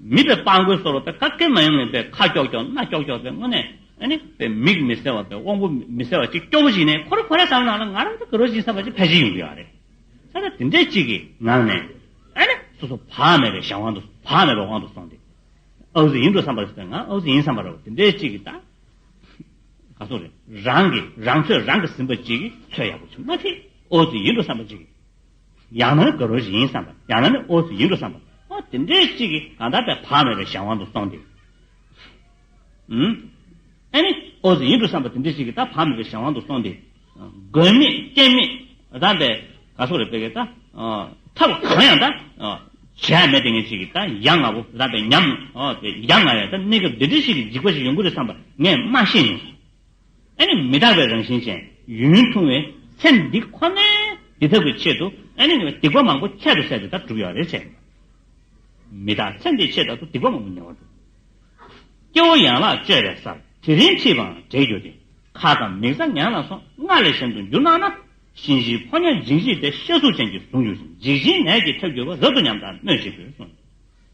མིད་པའི་སྤང་རྒོད་སོར་བ་པའི་ཀ་སྐད་མ་ཡོང་ངེས་པའི་ཁ་ཀྱོག་ཀྱོག་སྣ་ཀྱོག་ཀྱོག་པའི་སྔོ་ནད་པའི་མིག་མི་གསལ་བ་པའི་དབང་པོ་མི་གསལ་བ་གཅིག་སྐྱོ་བོ་ཞིག་ནས་ཁོ་རེ་ཁོ་རེ་བསམ་ནང་ལ་ང་རང་ཚོ་གི་རོ་གཅིག་བསམ་པ་ཅིག་ཕལ་ཆེར་ཡོང་གི་ཡོད་རེད། ས་ར་དེ་འདྲའི་ཅིག་གི་ནང་ནས། སོ་སོ་བག་མེད་པའི་ཞག་དབང་དུ་བག་མེད་པའི་དབང་དུ་སོང་སྟེ། ཨ་བུ་ཟི་ཡིན་འགྲོ་བསམ་པ་ཞིག་ང་ཨ་བུ་ཟི་ཡིན་བསམ་པ་རེད་དེ་འདྲའི་ཅིག་གི་ད། ག་སོང་རེད་རང་གི་རང་ཚོད་རང་གིས་ཟིན་པ་ཅིག་གི་ཚོད་ཡག་པོ་བྱུང་མ་ཐེ་ཨོ་ཟི་ཡིན་འགྲོ་བསམ་པ་ཅིག་གི། ཡང་ན་དགའ་རོགས་ཤིག་ཡིན་བསམ་པ་ཡང་ན་ནི་ཨོ་ཟི་ཡིན་འགྲོ་བསམ་པ། ཨོ་དེ་འདྲའི་གཅིག་གིས་གང་ལྟར་བས་བག་མེད་པའི་གཞན་དབང་དུ་སོང་སྟེ། ཨུན། ཨེ་ནི། ཨོ་ཟི་ཡིན་འགྲོ་བསམ་པ་དེ་འདྲའི་གཅིག་གིས་ད་བག་མེད་པའི་གཞན་དབང་དུ་སོང་སྟེ། དགོས་མེད་སྐྱེན་མེད་ད་འདི་ག་སོགས་རེད་པས་ཀྱི་ད། ཐབས་གང་ཡང་ད། བྱས་མེད་དེ་ངས་གཅིག་གིས་ད་ཡ་ང་བོ་ད་པས་ཉམས། ཨོ་དེ་ཡ་ང་ཡ་ད་གནས་སྐབས་འདི་འདྲའི་གཅིག་གིས་འཇིགས་པ་ཞིག་ཡོང་གི་རེད་བསམ་པ་ངས་མ་ཤེས་མྱོང། ཨ་ནི་མི་རྟག་པའི་རང་བཞིན་ཅན་ཡུན་རིང་ཐུང་བའི་ཚེ་འདི་ཁོ་ནའི་འདི་ལྟ་བུའི་ཆེད་དུ་ཨ་ནི་ཉེ་བའི་སྡིག་པ་མང་པོ་ཁྱད་དུ་བསད་དེ་དག་བསྒྲུབ་ཡོད་རེད་བྱས་ཡོད། མི་རྟག་ཚེ་འདིའི་ཆེད་དག་ཏུ་སྡིག་པ་མང་པོ་ཉེ་བར་བསྒྲུབས། སྐྱེ་བོ་ཡན་ལག་བཅོས་པའི་སར་དེ་རིང་འཁྲིས་པའང་བྲལ་གྱུར་ཏེ་ཁ་དང་མིག་རྩ་ཉན་ལ་སོ་ལྔ་ལས་གཞན་དུ་འགྱུར་སྣང་ན་གཤིན་གཤིན་ཕོ་ཉ་འཇིགས་འཇིགས་ཏེ་ཤ་གཟུགས་ཅན་གྱིས་བཟུང་གྱུར་ཅིང་འཇིགས་ཅིང་ནད་ཀྱིས་ཁྱབ་གྱུར་པ་རབ་ཏུ་ཉམས་དང་གནོད་བྱེད་དགོས་གསུངས།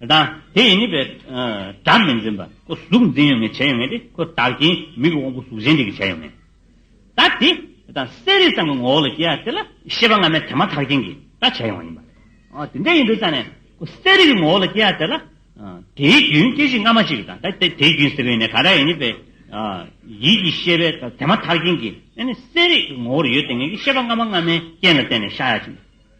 དང། དེ་ཡི་ནི་པའི། སྒྲ་མི་འཛིན་པ། ཁོ་གཟུགས་འཛིན་ཡོད་ངེས་བྱས་ཡོད་ངེས་ཏེ་ཁོ་བདག་གིས་མིག་གི་དབང་པོ་གཟུགས་གཞན་གཅིག་གིས་བྱས་ཡོད་ངེས། ད་དེ། དང། གསལ་རིག་ཙམ་གྱི་ངོ་བོ་ལ་སྐྱེ་བ་དེ་ལ་ཤེས་པ་སྔ་མའི་དེ་མ་ཐག་རྐྱེན་གྱིས་ད་བྱས་ཡོང་བ་ཡིན་པ། འོ་དེ་འདྲ་ཡིན་དུས་ཙམ་ནས། ཁོ་གསལ་རིག་གི་ངོ་བོ་ལ་སྐྱེ་བ་དེ་ལ། དེའི་རྒྱུན་སྐྱེ་གཞི་སྔ་མ་གཅིག་དང། ད་དེའི་རྒྱུན་སེལ་བས་ནི་ག་དགྲ་ཡི་ནི་པའི། ཡིད་ཀྱི་ཤེས་པའི་དེ་མ་ཐག་རྐྱེན་གྱིས་ནི་གསལ་རིག་གི་ངོ་བོར་ཡོད་དེ་ངེས་ཀྱི་ཤེས་པ་སྔ་མ་སྔ་མའི་རྐྱེན་ལ་བརྟེན་ནས་ཤར་ཡ་ཅིང།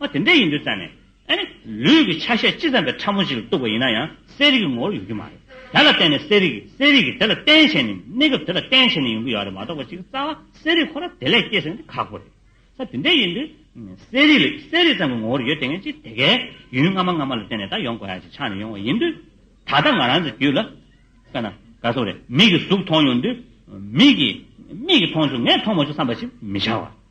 ཨ་དེ་འདྲ་ཡིན་དུས་ཙམ་ནས། ཨ་ནི། ལུས་ཀྱི་ཆ་ཤས་ཅི་ཙམ་པའི་ཕྲ་མོ་ཞིག་ལ་གཏུགས་པ་ཡིན་ན་ཡང་གསལ་རིག་གི་ངོ་བོར་ཡོང་རྒྱུ་མ་རེད། དེ་ལ་བརྟེན་ནས་གསལ་རིག་གིས་གསལ་རིག་གིས་དེ་ལ་བརྟེན་བྱས་ནས་གནས་སྐབས་དེ་ལ་བརྟེན་བྱས་ནས་ཡོང་གི་ཡོད་རེད་མ་གཏོགས་པ་ཅིག་རྩ་བ་གསལ་རིག་ཁོ་ན་དེ་ལས་སྐྱེས་ཟེར་ན་ཁག་པོ་རེད། ས་དེ་འདྲ་ཡིན་དུས། གསལ་རིག་ལས་གསལ་རིག་ཙམ་གྱི་ངོ་བོར་ཡོད་དེ་ངས་ཅི་དེ་གའི་ཡུན་སྔ་མ་སྔ་མ་ལ་བརྟེན་ནས་ད་ཡོང་དགོས་ཡ་ཞིག་ཆགས་ནས་ཡོང་བ་ཡིན་དུས། ད་ལྟ་ང་རང་ཚོའི་རྒྱུད་ལ། དཔེར་ན། ག་སོགས་རེད་མིག་གིས་གཟུགས་མཐོང་ཡོང་དུས། མིག་གིས། མིག་གིས་མཐོང་བྱུང་ངས་མཐོང་མ་བྱུང་བསམ་པ་ཞིག་མི་བྱ་བར།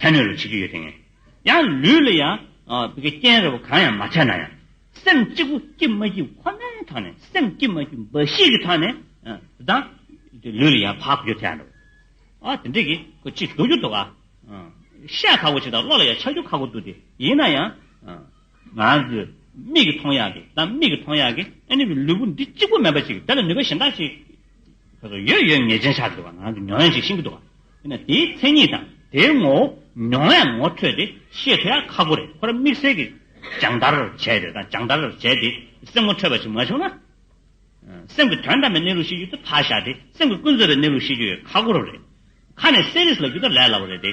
ཕན་གནོད་ལ་བྱེད་རྒྱུ་ཡོད་དེ། ཡང་ལུས་ལ་ཡང། རྐྱེན་རེ་བ་གང་ཡང་མ་བྱས་ན་ཡང། སེམས་གཅིག་པུ་སྐྱིད་མ་སྐྱིད་ཁོ་ནའི་ཐག་ནས་སེམས་སྐྱིད་མ་སྐྱིད་འབའ་ཤིག་གི་ཐག་ནས། དང། ལུས་ལ་ཡང་བག་གོ་རྒྱུ་དེ་ཡང་འགྲོ། དེ་འདྲས་ཀྱི། ཁོ་ཅིག་འདུག་རྒྱུ་འདུག་ཨ། ཤ་ཁག་པོ་ཅིག་དང་བློ་ལ་ཡང་ཆགས་རྒྱུ་ཁག་པོ་འདུག་དེ་ཡིན་ན་ཡང། ང་ཚོས་མིག་གིས་མཐོང་ཡག་གི་དང་མིག་གིས་མཐོང་ཡག་གི། ལུས་པོ་འདི་གཅིག་པུ་མེད་པ་ཅིག་དེ་ལ་ནུས་པ་གཞན་དག་ཅིག། ཡོད་ཡོད་ངེས་ཅན་ཆགས་ཀྱི་འདུག་པ་ནང་གི་མྱོང་ཡན་ཞིག་ཤེས་ཀྱི་འདུག་པ། དེ་ནི་དེའི་མཚན་ཉིད་དང་དེའི་ངོ་བོ་མྱོང་ཡན་ངོ་འཕྲོད་དེ་ཤེས་ཐུབ་ཡག་ཁག་པོ་རེད་ཁོ་ར་དམིགས་བསལ་གྱི་སྦྱང་བརྡར་བྱས་ཡོད་དང་སྦྱང་བརྡར་བྱས་ཏེ་སེམས་ངོ་འཕྲོད་པ་ཞིག་མ་བྱུང་ན། སེམས་ཀྱི་དོན་དམ་པའི་གནས་ལུགས་ཤེས་རྒྱུ་དེ་ཕར་བཞག་སྟེ་སེམས་ཀྱི་ཀུན་རྫོབ་པའི་གནས་ལུགས་ཤེས་རྒྱུ་ཡོད་ཁག་པོ་རུ་རེད། ཁ་ནས་གསལ་རིས་ལ་རྒྱུ་ད་ལས་སླ་བོ་རེད་དེ།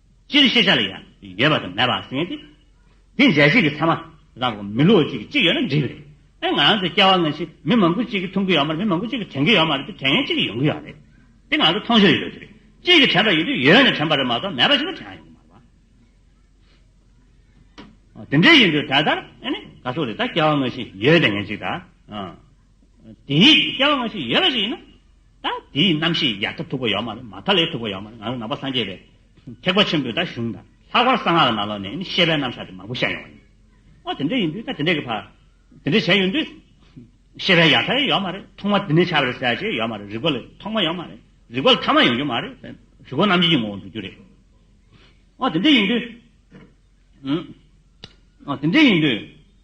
སྤྱིར་ཤེས་བྱ་ལ་ཡང་ཡོད་པ་དང་མེད་པ་ཟིན་ཏེ། འདི་འཇལ་བྱེད་ཀྱི་ཚད་མ་ལ་གོ། མི་ལོ་གཅིག་གཅིག་ཡོད་ན་འགྲིག་གི་རེད། ཨེ་ང་ཚོ་སྐྱེ་བ་སྔ་ཕྱིར་མི་མང་པོ་གཅིག་གིས་འཐུང་གི་ཡོད་མ་རེད་མི་མང་པོ་གཅིག་གིས་དྲན་གྱི་ཡོད་མ་རེད་དེ་དྲན་ཡན་གཅིག་གིས་ཡོང་གི་ཡོད་རེད། དེ་ང་ཚོ་མཐོང་ཕྱིར་ཡོད་དེ་རེད། གཅིག་གིས་དྲན་པ་ཡིན་དུས་ཡོད་ནས་དྲན་པ་རེད་མ་གཏོགས་མེད་པ་ཞིག་ལ་དྲན་ཡང་ཡོང་གི་མ་རེད། དེ་འདྲ་ཡིན་དུས་ད་ལྟར་ཨེ་ནས་ག་སོགས་རེད་ད་སྐྱེ་བ་སྔ་ཕྱིར་ཡོད་དེ་ངན་གཅིག་ད། དེའི་སྐྱེ་བ་སྔ་ཕྱི་ཡོད་པ་ཞིག་ཡིན་ན། ད་དེའི་རྣམ་ཤེས་ཡར་ཐབས་འཁྲུག་པོ་ཡོད་མ་རེད་མ་མཐའ་ལས་འཁྲུག་པོ་ཡོད་མ་རེད་ང་རང་ནང་པ་སངས་རྒྱས་པའི་ཐེག་པ་ཆེན་པོའི་ད་གཞུང་དང་ལྷག་པར་གསང་སྔགས་ལ་ན་ལོག་ནས་ཤེས་པའི་རྣམ་གཞག་དེ་མང་པོ་བཤད་ཡོང་བ་ཡིན། ཨོ་དེ་འདྲ་ཡིན་དུས་ད་དེ་འདྲས་ཀྱི་བར་དེ་འདྲས་བྱས་ཡོང་དུས། ཤེས་པའི་ཡ་ཐལ་ཡོད་མ་རེད་ཐོག་མ་དེ་འདྲས་བྱ་བ་རེད་ཟེར་བྱས་ཡོད་མ་རེད་རིག་པ་ལས་ཐོག་མ་ཡོད་མ་རེད་རིག་པ་ལས་ཐ་མ་ཡོང་རྒྱུ་མ་རེད་བེམ་རིག་པ་རྣམ་འབྱེད་ཀྱི་ངོ་བོ་འགྲོ་རྒྱུ་རེད། ཨོ་དེ་འདྲས་ཡིན་དུས། ཨོ་དེ་འདྲས་ཡིན་དུས།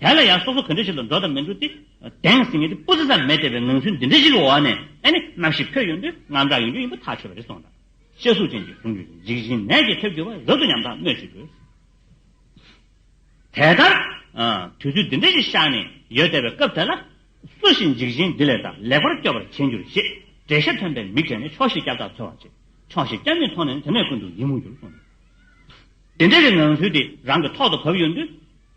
དེ་ལ་ཡང་སོ་སོ་ག་འདྲ་ཞིག་ལ་འགྲོ་དང་མི་འགྲོ་དེ་གདེང་ཟིན་ངེས་ཏེ་སྤུ་ཟ་ཙམ་མེད་བལྟས་པའི་ངང་ཚུལ་འདི་འདྲ་ཞིག་གི་འོག་ནས་ཨེ་ནི་ནམ་ཞིག་ཕོ་ཡོན་པོའི་དངངས་སྐྲག་ཡོང་རྒྱུ་ཡིན་པ་ཐག་ཆོད་པ་རེད་སོང་དང། ཤེས་གཟུགས་ཅན་གྱི་གཟུང་འགྱུར་གྱི་འཇིགས་ཞེན་ནད་ཀྱིས་ཐེབས་འགྱུར་བ་རབ་ཏུ་ཉམས་ཐག་སྨོས་ཅི་དགོས། དེ་ལྟར་དུས་ཚོད་འདི་འདྲ་ཞིག་བཞག་ནས་ཡོད་བལྟས་པའི་སྐབས་དེ་ལ། སུ་ཞིག་འཇིགས་ཞེན་འདི་ལས་དང་ལེགས་པར་སྐྱོབ་པར་བྱེད་འགྱུར་ཞེས་བྲེད་ཤ་ཐོན་པའི་མིག་བགྲད་ནས་ཕྱོགས་བཞི་སྐྱབས་བདག་འཚོལ་བར་བྱེད། ཕྱོགས་བཞི་སྐྱབས་མེད་མཐོང་ནས་ནི་དེ་ནས་ཀུན་ཏུ་ཡིད་མུག་གྱུར་སོང། འདི་འདྲ་བའི་ངང་ཚུལ་དེ་རང་གི་ཐོག་ཏུ་བབས་ཡོད་དུས།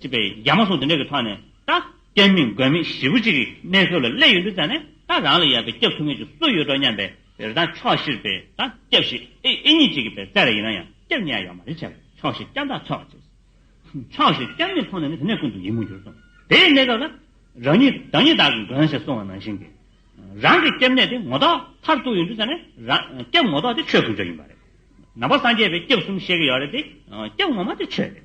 ཅེས་པའི་རྒྱ་མ་སོགས་འདི་འདྲ་གི་ཐོག་ནས་ད། སྐྱ་མིན་རྒོད་མིན་ཞི་བུ་གཅིག་གི་གནས་ཚོད་ལ་སླེབས་ཡོད་འདུག་ཙང་ནས་ད་རང་ལ་ཡག་པའི་སྐྱབས་ཐུབ་ངེས་ཅིག་སུ་ཡོད་འགྲོ་སྙམ་པའི་རེ་ད་ཕྱོགས་བཞིར་པའི་ད་སྐྱབས་ཞིག་ཨེ་ཨེ་ཉིན་གཅིག་གི་པའི་རྩལ་ལ་ཡིན་ན་ཡང་སྐྱབས་ཉེས་ཡ་ཡོག་མ་རེད་བྱས་པས་ཕྱོགས་བཞི་སྐྱབས་མཐའ་ཚོགས་ཅེས། ཕྱོགས་བཞིར་སྐྱབས་མེད་མཐོང་ནས་ནི་དེ་ནས་ཀུན་ཏུ་ཡིད་མུག་གྱུར་སོང། དེའི་གནས་སྐབས་ལ། རང་ཉིད་བདག་ཉིད་དག་གི་མགོན་ཞེས་གསུང་བ་ནང་བཞིན་གྱི། རང་གི་སྐྱབས་གནས་དེ་ངོ་ཐོག་མཐར་གཏུགས་ཡོད་འདུག་ཙང་ནས་རང་སྐྱབས་ངོ་ཐོག་དེ་ཆོས་ཀུན་སྤྱོད་ཡིན་པ་རེད། ནང་པ་སངས་རྒྱས་པའི་སྐྱབས་གསུམ་བཤད་ཀྱི་ཡོག་རེད་དེ། སྐྱབས་ངོ་མ་དེ་ཆོས་རེད།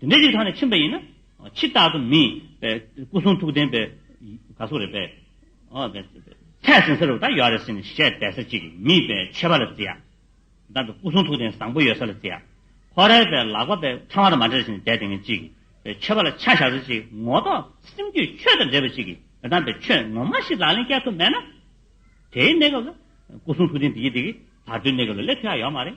དེ་འདྲའི་རིགས་ཐང་ནས་ཕྱིན་པ་ཡིན་ན། ཕྱི་རྟག་ཏུ་མིན། སྐུ་གསུང་ཐུགས་ལྡན་པའི། ག་སོགས་རེད་པས། ཚད་ཟིན་ས་རུ་ད་ཡོད་རེད་ཟེར་ནས་བཤད་བསྡད་ས་ཅིག་མིད་པས་ཆད་པ་ལ་བརྩི་ཡ། བདག་གི་སྐུ་གསུང་ཐུགས་ལྡན་བཟང་པོ་ཡོད་ས་ལ་བརྩི་ཡ། ཁོ་རེ་པས་ལག་པ་པས་ཕྲེང་བ་དང་མ་འབྲེལ་ཟེར་ནས་བསྡད་དེ་ངན་ཅིག། ཆད་པ་ལ་ཆ་བཞག་ས་ཅིག་ངོ་ལྡོག་སེམས་རྒྱུད་ཆོས་དང་འབྲེལ་བ་ཅིག་གི་དམ་པའི་ཆོས་ངོ་མ་ཞིག་ལག་ལེན་བསྐྱལ་ཐུབ་མེད་ན། དེའི་གནས་སྐབས་ལ། སྐུ་གསུང་ཐུགས་ལྡན་འདི་ཡི་འདི་གི། བར་དོའི་གནས་སྐབས་ལ་སླེབས་ཐུབ་ཡ་ཡོད་མ་རེད།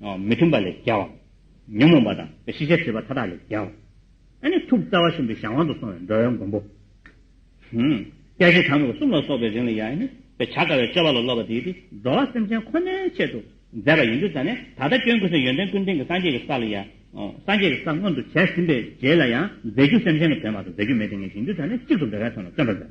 མི་མཐུན་པ་ལས་རྒྱལ་བ། ཉོན་མོངས་པ་དང་ཤེས་བྱའི་སྲིད་པ་མཐའ་དག་ལས་རྒྱལ་བ། ཐུགས་རྩ་བ་གསུམ་གྱི་གཞན་དབང་དུ་སོང་བའི་འགྲོ་བའི་མགོན་པོ། སྐྱེ་ཤི་དྲང་པོ་གསུམ་ལ་སོགས་པའི་རིང་ལ་ཡང་ནི་བྱ་དཀའ་བའི་སྤྱོད་པ་ལ་སློབ་པ་དེའི་དེ་འགྲོ་བ་སེམས་ཅན་ཁོ་ནའི་ཆེད་དུ་མཛད་པ་ཡིན་རྒྱུ་ཙམ་ནས་ད་ལྟ་སྐྱོན་ཀུན་སའི་ཡོན་ཏན་ཀུན་ལྡན་གྱི་སངས་རྒྱས་ཀྱི་ས་ལ་ཡང་སངས་རྒྱས་ཀྱི་ས་མངོན་དུ་བྱས་ཟིན་པའི་རྗེས་ལ་ཡང་མཛད་རྒྱུ་སེམས་ཅན་གྱི་དོན་བར་དུ་མཛད་རྒྱུ་མེད་དེ་ངེས་ཤིང་རྒྱུ་ཙམ་ནས་གཅིག་ཏུ་འདོད་པའི་དོན་ལ་བརྩོན་པར་མཛད།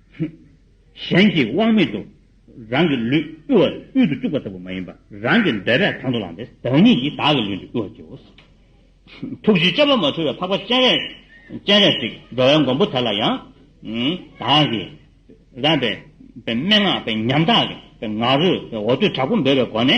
གཞན་གྱིས་དབང་མེད་དུ་རང་གི་ལུས་དབུལ་བ་དབུལ་དུ་བཅུག་པ་ལྟ་བུ་མ་ཡིན་པར་རང་གི་འབད་པས་དང་དུ་བླངས་པས་བདག་ཉིད་ཀྱིས་བདག་གི་ལུས་འདི་དབུལ་བར་བགྱིའོ། ཐུགས་རྗེའི་དཔྱད་པ་མ་འཁྲུལ་བའི་འཕགས་པ་སྤྱན་རས་གཟིགས་འགྲོ་བའི་མགོན་པོ་དེ་ལ་ཡང། བདག་གིས་རང་གི་སྨྲེ་སྔགས་པའི་ཉམ་ཐག་གི་ང་རོས་འོ་དོད་དྲག་པོ་འབོད་པའི་སྒོ་ནས།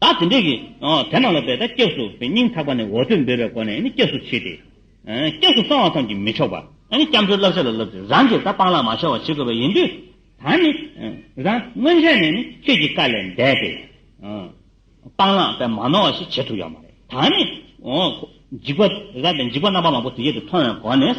བདག་དེ་འདྲས་ཀྱིས་དེ་རྣམས་ལ་འབད་དེ་སྐྱབས་སུ་བའི་སྙིང་ཐག་པ་ནས་འོ་དོད་འབོད་པའི་སྒོ་ནས་སྐྱབས་སུ་མཆི་སྟེ། སྐྱབས་སུ་སོང་བ་ཙམ་གྱིས་མི་ཆོག་པར། སྐྱབས་འགྲོའི་བསླབ་བྱ་ལ་བསླབ་ཚེ་རང་གིས་ད་སྤང་ལག་མ་ཤོར་བ་བྱེད་དགོས་པ་ཡིན་དུས། ད་ནི་རང་སྔོན་ཆད་ནས་ནི་ཁྱོད་ཀྱི་བཀའ་ལས་འདས་ཏེ། སྤང་ལག་པས་མ་ནོར་བ་ཞིག་བྱེད་ཐུབ་ཡོད་མ་རེད། ད་ནི། འཇིགས་པ་རེད་ད་འཇིགས་པ་རྣམ་པ་མང་པོ་དེ་ཡོད་དུ་མཐོང་བའི་སྒོ་ནས།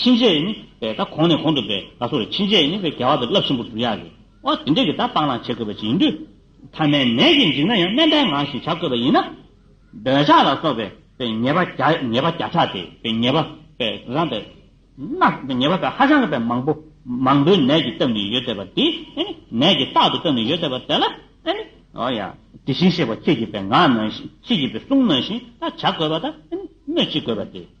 ཕྱིན་ཆད་ནི་པའི་ད་གོང་ནས་གོང་དུ་པའི་ད་སོགས་ལས་ཕྱིན་ཆད་ནི་པའི་རྒྱལ་བ་དང་རླབས་ཆེན་པོ་བསྒྲུབ་ཡ་རེད་ཨོ་དེ་འདྲས་ཀྱི་ད་སྤང་བླང་བྱེད་དགོས་པ་ཅིག་ཡིན་དུས། ཐ་མའི་ནད་ཀྱིས་འཇིགས་ན་ཡང་སྨན་པའི་ངག་བཞིན་བྱ་དགོས་པ་ཡིན་ན། འདོད་ཆགས་ལ་སོགས་པའི་པའི་ཉེས་པ་བརྒྱ་ཉེས་པ་བརྒྱ་ཕྲག་སྟེ་པའི་ཉེས་པ་པའི་རང་པའི་ན་པའི་ཉེས་པ་པའི་ཧ་ཅང་གི་པའི་མང་པོ་མང་པོའི་ནད་ཀྱིས་བཏབ་ནས་ཡོད་དེ་པ་དེ་ཨེ་ནི་ནད་ཀྱིས་རྟག་ཏུ་བཏབ་ནས་ཡོད་དེ་པ་དེ་ལ་ཨེ་ནི་ཨོ་ཡ། དེ་བཞིན་གཤེགས་པ་ཁྱེད་ཀྱིས་པའི་ངག་ནང་བཞིན་ཁྱེད་ཀྱིས་པའི་གསུང་ནང་བཞིན་ད་བྱ་དགོས་པ་ད་ཨེ་ནི་སྨོས་ཅི་དགོས་པ་དེ།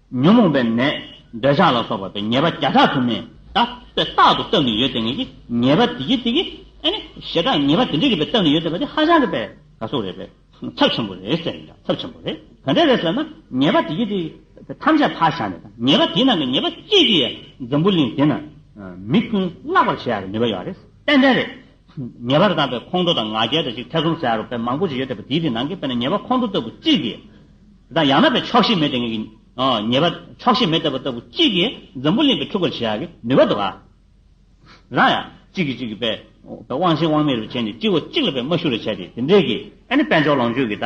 ཉོན་མོངས་པའི་ནད། འདོད་ཆགས་ལ་སོགས་པ་སྟེ་ཉེས་པ་བརྒྱ་ཕྲག་དུ་མས་དག་པའི་རྟག་ཏུ་བཏབ་ནས་ཡོད་དེ་ངེད་ཀྱིས་ཉེས་པ་དེ་གྱིས་དེ་གྱིས་ཨེ་ནི་ཞེ་དྲག་ཉེས་པ་དེ་འདྲས་ཀྱིས་པས་བཏབ་ནས་ཡོད་ཟེར་བ་དེ་ཧ་ཅང་གི་པས་ག་སོགས་རེད་པས་ཚབས་ཆེན་པོ་རེད་ཟེར་ཡིན་ཀྱང་ཚབས་ཆེན་པོ་རེད་ག་འདྲས་རེད་ཟེར་ན་ཉེས་པ་དེ་གྱིས་དེ་གྱིས་ཐམས་ཅད་ཕར་བཞག་ནས་དང་ཉེས་པ་དེའི་ནང་གི་ཉེས་པ་གཅིག་གིས་ཡང་འཛམ་བུ་གླིང་འདི་ན་མི་ཀུན་བརླག་པར་བྱེད་ཡག་གི་ནུས་པ་ཡོད་རེད་ཏན་ཏན་རེད་ཉེས་པར་བཏགས་པའི་ཁོང་ཁྲོ་དང་ང་རྒྱལ་དང་གཅིག་ཐེ་ཚོམ་ཟེར་ཡ་རུ་དཔེ་མང་པོ་ཞིག་ཡོད་དེ་བ་དེའི་དེ་ནང་གི་དཔེ་ན་ཉེས་པ་ཁོང་ཁྲོ་ལྟ་བུ་གཅིག་གིས། དང་ཡང་ན་བའི་ཆོག་ཤེས་མེད་དེ་ངེས་ཀྱི། ཉེས་པ་ཆོག་ཤེས་མེད་ལྟ་བུ་ལྟ་བུ་གཅིག་གིས་འཛམ་བུ་གླིང་གི་འཁྲུལ་འཁོར་བྱེད་ཡ་གི་ནུས་པ་འདུག་ཨ། རང་ཡང། གཅིག་གིས་གཅིག་གི་དཔེ། དབང་ཆེན་དབང་མེད་རུ་བྱས་ནས་གཅིག་བ་གཅིག་ལ་དཔེ་མ་ཞུ་རུ་བྱས་ཏེ་དེ་འབྲེལ་གྱི། ཨ་ནི་དཔེ་འཇོག་ལོངས་སྤྱོད་ཀྱི་ད།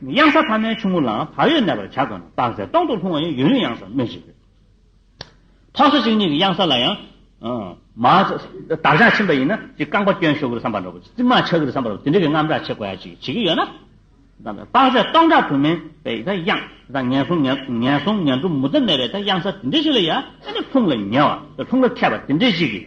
གཡང་ས་ཐ་མའི་ཆུང་ངུ་ལའང་བག་ཡོད་གནས་པར་བྱ་དགོས་ན་དཔག་ཚད་སྟོང་དུ་ལྷུང་བ་ཡང་ཡུན་རིང་གཡང་སར་སྨིན་བཞིན་ཡོད། ཕག་སོ་གཅིག་གཉིས་ཀྱི་གཡང་ས་ལ་ཡང། མ། བདག་ཅག་ཕྱིན་པ་ཡིན་ན་ཅིག་རྐང་པ་བསྐྱོན་ཤོག་གུར་སམ་པར་འགྲོ་གི་རྩིག་མ་ཆག་གིར་སམ་པར་འགྲོ་གི་དེ་འདྲ་གི་རྔམ་སྐྲག་བྱེད་དགོས་ཡ་ཅིག་བྱེད་ཀྱི་ཡོད་ན། དཔག་ཚད་སྟོང་ཕྲག་དུ་མའི་པའི་ད་གཡང་ས་ངན་སོང་ངན་སོང་ངན་འགྲོ་མུ་མཐའ་མེད་པའི་ད་གཡང་ས་དེ་འདྲ་ཞིག་ལ་ཡང་ཨ་ནི་ལྷུང་ལ་ཉེ་བ་ལྷུང་ལ་མཁས་པ་དེ་འདྲ་ཞིག་གིས།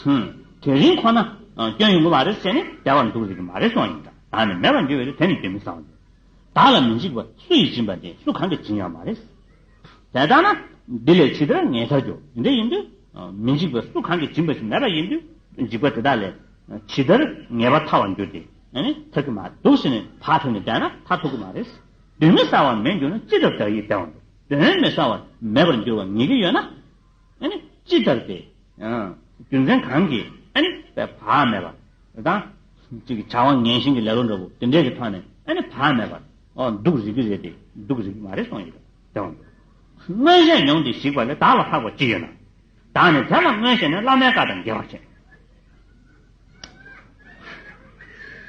ཧུམ། དེ་རིང་ཁོ་ན་སྐྱོན་ཡོང་གི་མ་རེད་ཟེར་ནས་བསྡད་པར་འདུག་རིག་གི་མ་རེད་སོང་ཡིན་དྲག་ནས་མེད་པར་འགྱུར་བས་དེ་ནི་དོན་མི་བཟང་བ་རེད། བདག་ལ་མི་འཇིགས་པ་སུ་ཡིས་སྦྱིན་པ་དེ་སུ་གང་གིས་སྦྱིན་ཡང་མ་རེད། དེ་ལྟ་ན་འདི་ལས་ཇི་ལྟར་ངེས་ཚར་གྱུར་འདི་ཡིན་དུས། མི་འཇིགས་པ་སུ་གང་གིས་སྦྱིན་པ་ཞིག་མེད་པ་ཡིན་དུས་འཇིགས་པ་དེ་དག་ལས་ཇི་ལྟར་ངེས་པ་ཐར་བར་འགྱུར་ཏེ་ཐུབ་ཀྱི་མ་འདུག་ཟེར་ནས་བག་ཕེབས་ནས་བསྡད་ན་ད་ཐུག་གི་མ་རེད། དོན་མི་བཟང་བ་མེད་འགྱུར་ན་ཅི་ལྟར་བདག་ཡིད་བདེ་བར་འདུག་དོན་མི་བཟང་བ་མེད་པར་འགྱུར་བ་ངེས་ཀྱི་ཡོད་ན། ཅི་ལྟར་ཏེ། རྒྱུ་མཚན་གང་གིས་བག་མེད་པ་དང། བྱ་བ་ངན་ཞིང་གི་ལེ་ལོ་འདྲ་བོ་དེ་འདྲས་ཀྱི་ཐོག་ནས་བག་མེད་པར་འདུག་རིགས་ཀྱི་རེད་དེ་འདུག་རིགས་ཀྱི་མ་རེད་སོང་ཡོད་དེ། མངོན་ཤེས་མྱོང་སྟེ་ཞིག་པ་ལས་བདག་ལ་ལྷག་པ་ཅི་ཡོད་ན། བདག་ནི་དེ་ལ་མངོན་ཤེས་ནས་བླ་མའི་བཀའ་དང་འགལ་བར་བྱེད།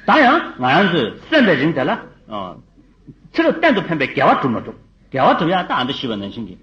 ད་ཡང་ང་རང་ཚོས་གསོན་པའི་རིང་དེ་ལ་ཕྱི་རོལ་གཏན་དུ་ཕན་པའི་དགེ་བ་བསྒྲུབ་མ་ཐུབ། དགེ་བ་བསྒྲུབ་ཡག་རྟགས་འདི་ཤི་བ་ནང་བཞིན་གྱི།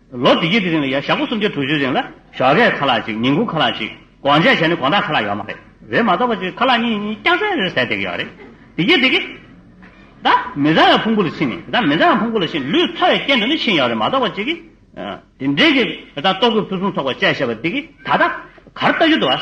ལོ་བདུད་བརྒྱད་ཀྱི་རིང་ལ་ཡང་ཞག་པོ་སུམ་བརྒྱ་དྲུག་ཅུའི་རིང་ལ། ཞོགས་ཀའི་ཁ་ལག་ཅིག་ཉིན་གུང་ཁ་ལག་ཅིག་དགོང་ཅག་བྱས་ནས་དགོང་དག་ཁ་ལག་ཡོད་མ་རེད། རེད་མ་གཏོགས་པ་ཅིག་ཁ་ལག་གཉིས་གཉིས་སྐྱག་ཟན་རེར་ཟད་བསྡད་ཀྱི་ཡོད་རེད། དེ་རྒྱས་དེ་རྒྱས། ད་མི་བཟང་བའི་ཕུང་པོ་ལ་ཕྱིན་ནས་ད་མི་བཟང་བའི་ཕུང་པོ་ལ་ཕྱིན་ནས་ལུས་ཚ་བའི་རྐྱེན་དུ་ནི་ཕྱིན་ཡོད་རེད་མ་གཏོགས་པ་ཅིག། དེ་འདྲས་ཀྱི་ད་ལྟོ་གོས་ཕུན་སུམ་ཚོགས་པ་བཅས་བྱས་པ་འདི་གིས་ད་ལྟ་གར་ལྟ་རྒྱུ་འདུག་ཨ།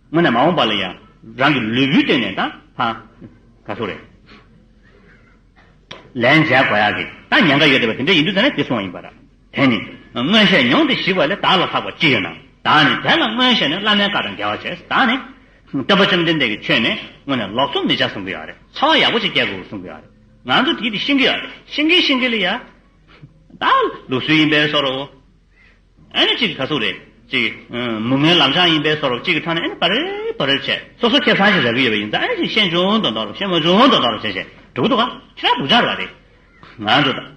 དངོས་གནས་མ་འོངས་པ་ལ་ཡང་རང་གི་ལུས་པོའི་སྟེང་ནས་ད་ག་སོ་རེད། ལན་འཇལ་དགོས་ཡག་གི་ད་ཉན་ཁ་ཡོད་བསྡད་པ་དེ་འདྲ་ཡིན་དུས་ད་ནས་དེ་སོང་བ་ཡིན་པ་ར། དེ་ནི་སྔོན་བཤད་མྱོང་སྟེ་ཞིག་བ་ལས་ད་ལ་ལྷག་པ་ཅི་ཡོད་ན་ད་ནི་དེ་ལ་སྔོན་བཤད་ནས་བླ་མའི་བཀའ་དང་འགལ་བ་བྱས་ད་ནི་བསྟན་པ་བཅོམ་ལྡན་འདས་ཀྱི་ཆོས་ནི་དངོས་ནས་ལོག་འཚོ་མི་བྱ་གསུང་གི་ཡག་རེད་ཚ་བ་ཡག་པོ་ཅིག་སྐྱེ་དགོས་གསུང་གི་ཡག་རེད་ང་ཚོ་དེའི་དེ་ཤེས་གི་ཡག་རེད་ཤེས་གི་ཤེས་གི་ལ་ཡ། ད་ལུགས་སྲོལ་ཡིན་པས་སོ་རོ། ཨེ་ནི་གཅིག་གི་ག་ཚུགས་རེད། ཅིག། མུ་མེན་ལམ་བྱང་ཡིན་པས་སོ་རོག་གཅིག་གི་ཁྲག་ནི་ཨེ་ནི་བ་རེ་བ་རེར་བྱས། སོ་སོ་ཁེ་བཟང་ཞིག་རག་གི་ཡོད་པ་ཡིན་ཙང་ཨེ་ནི་ཅིག་ཤེས་འབྱུང་དང་འདོག་རོག་ཤེས་མ་འབྱུང་དང་འདོག་རོག་བྱས་བྱས། འགྲོ་གི་འདུག་ག། ཁྱེད་རང་སྡུག་ཅག་རེད་བ་རེད། ང་ཚོ་ད།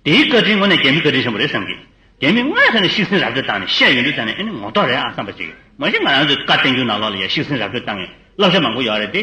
དེའི་བཀའ་དྲིན་ངོ་ནས་རྒྱ་མི་བཀའ་དྲིན་ཆེན་པོ་རེད་བསམ་གི། རྒྱ་མིས་དངོས་ཐད་ནས་ཤིག་སེང་ར་སྤྲོད་བཏང་ནས་བཤད་ཡོད་འདུག་ད་ནི་ཨེ་ནི་ངོ་ཐོག་རེད་ཨ་བསམ་པ་ཅིག། མ་གཞི་ང་རང་ཚོའི་བཀའ་བསྟན་འགྱུར་ནང་ལོགས་ལ་ཡང་ཤིག་སེང་ར་སྤྲོད་བཏང་ངེས་བསླབ་བྱ་མང་པོ་ཡོད་རེད་དེ།